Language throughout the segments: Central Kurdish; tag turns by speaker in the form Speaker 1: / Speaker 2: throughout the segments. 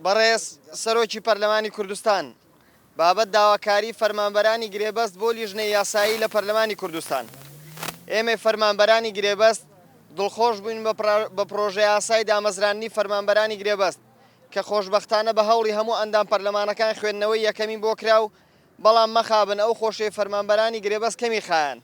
Speaker 1: بەڕێز سەرۆکی پەرلەمانی کوردستان، بابەت داواکاری فەرمانبەرانی گرێبەست بۆ لیژنەی یاسایی لە پەرلەمانی کوردستان. ئێمەی فەرمانبەرانی گرێبەست دڵخۆش بووین بە پڕۆژەیاسای دامەزراندنی فەرمانبەرانی گرێبەست، کە خۆشبەختانە بە هەوڵی هەموو ئەندام پەرلەمانەکان خوێندنەوەی یەکەمی بۆ کرا و بەڵام مەخابن ئەو خۆشیەی فەرمانبەرانی گرێبەست کەمی خایاند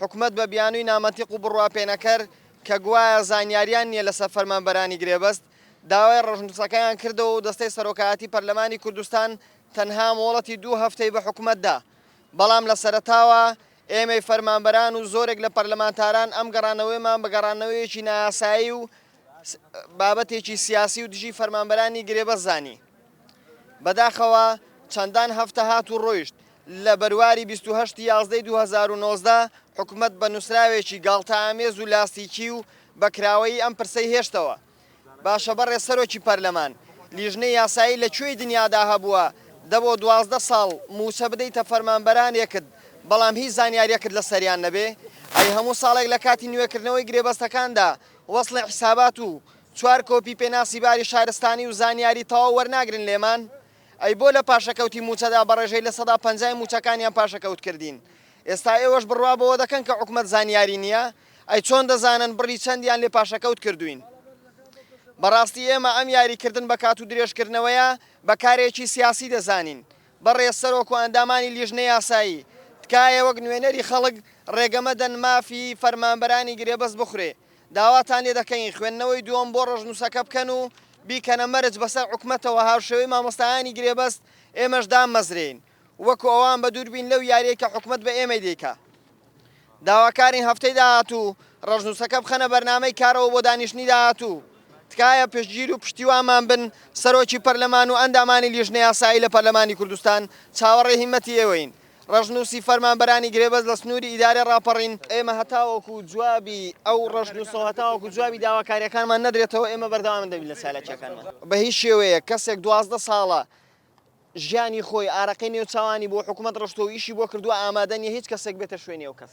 Speaker 1: حکومەت بە بیانووی نامەنتیق و بڕواپێنەکەر کە گوایە زانیاریان نیە لەسەر فەرمانبەرانی گرێبەست داوای ڕەشنووسەکەیان کردەوە و دەستەی سەرۆکایەتی پەرلەمانی کوردستان تەنها مۆڵەتی دوو هەفتەی بە حکومەت دا بەڵام لە سەرەتاوە ئێمەی فەرمانبەران و زۆرێک لە پەرلەمانتاران ئەم گەڕانەوەیەمان بە گەڕانەوەیەکی نایاسایی و بابەتێکی سیاسی و دژی فەرمانبەرانی گرێبەست زانی. بەداخەوە چەندان هەفتە هات و ڕۆیشت، لە بەرواری بیست و هەشت یازدەی دوو هەزار و نۆزدە حکومەت بە نووسراوێکی گاڵتەئامێز و لاستیکی و بە کراوەیی ئەم پرسەی هێشتەوە. باشە بەڕێز سەرۆکی پەرلەمان، لیژنەی یاسایی لە کوێی دنیادا هەبووە دە بۆ دوازدە ساڵ مووچە بدەیتە فەرمانبەرانێکت بەڵام هیچ زانیارییەکت لەسەریان نەبێ؟ ئەی هەموو ساڵێک لە کاتی نوێکردنەوەی گرێبەستەکاندا وەسڵی حیسابات و چوار کۆپی پێناسی باری شارستانی و زانیاری تەواو وەرناگرن لێمان؟ ئەی بۆ لە پاشەکەوتی مووچەدا بە ڕێژەی لە سەدا پەنجای مووچەکانیان پاشەکەوت کردین؟ ئێستا ئێوەش بڕوا بەوە دەکەن کە حکومەت زانیاری نییە؟ ئەی چۆن دەزانن بڕی چەندیان لێ پاشەکەوت کردووین؟ بەڕاستی ئێمە ئەم یاریکردن بە کات و درێژکردنەوەیە بە کارێکی سیاسی دەزانین، بەڕێز سەرۆک و ئەندامانی لیژنەی یاسایی، تکایە وەک نوێنەری خەڵک ڕێگە مەدەن مافی فەرمانبەرانی گرێبەست بخورێ. داواتان لێ دەکەین خوێندنەوەی دووەم بۆ ڕەشنووسەکە بکەن و بیکەنە مەرج بەسەر حکومەتەوە هاوشێوەی مامۆستایانی گرێبەست ئێمەش داممەزرێین وەکو ئەوان بەدووربین لەو یاریەی کە حکومەت بە ئێمەی دەیکا. داواکارین هەفتەی داهاتوو ڕەشنووسەکە بخەنە بەرنامەی کارەوە بۆ دانیشتنی داهاتوو. تکایە پشتگیر و پشتیوانمان بن، سەرۆکی پەرلەمان و ئەندامانی لیژنە یاسایی لە پەرلەمانی کوردستان چاوەڕێی هیمەتی ئێوەین. ڕەشنووسی فەرمانبەرانی گرێبەست لە سنووری ئیدارەی ڕاپەڕین، ئێمە هەتاوەکو جوابی ئەو ڕەشنووسە و هەتاوەکو جوابی داواکارییەکانمان نەدرێتەوە ئێمە بەردەوام دەبین لە چالاکییەکانمان. بە هیچ شێوەیەک کەسێک دوازدە ساڵە ژیانی خۆی ئارەقەی نێو چاوانی بۆ حکومەت ڕشتوە و ئیشی بۆ کردوە ئامادە نیە هیچ کەسێک بێتە شوێنی ئەو کەس.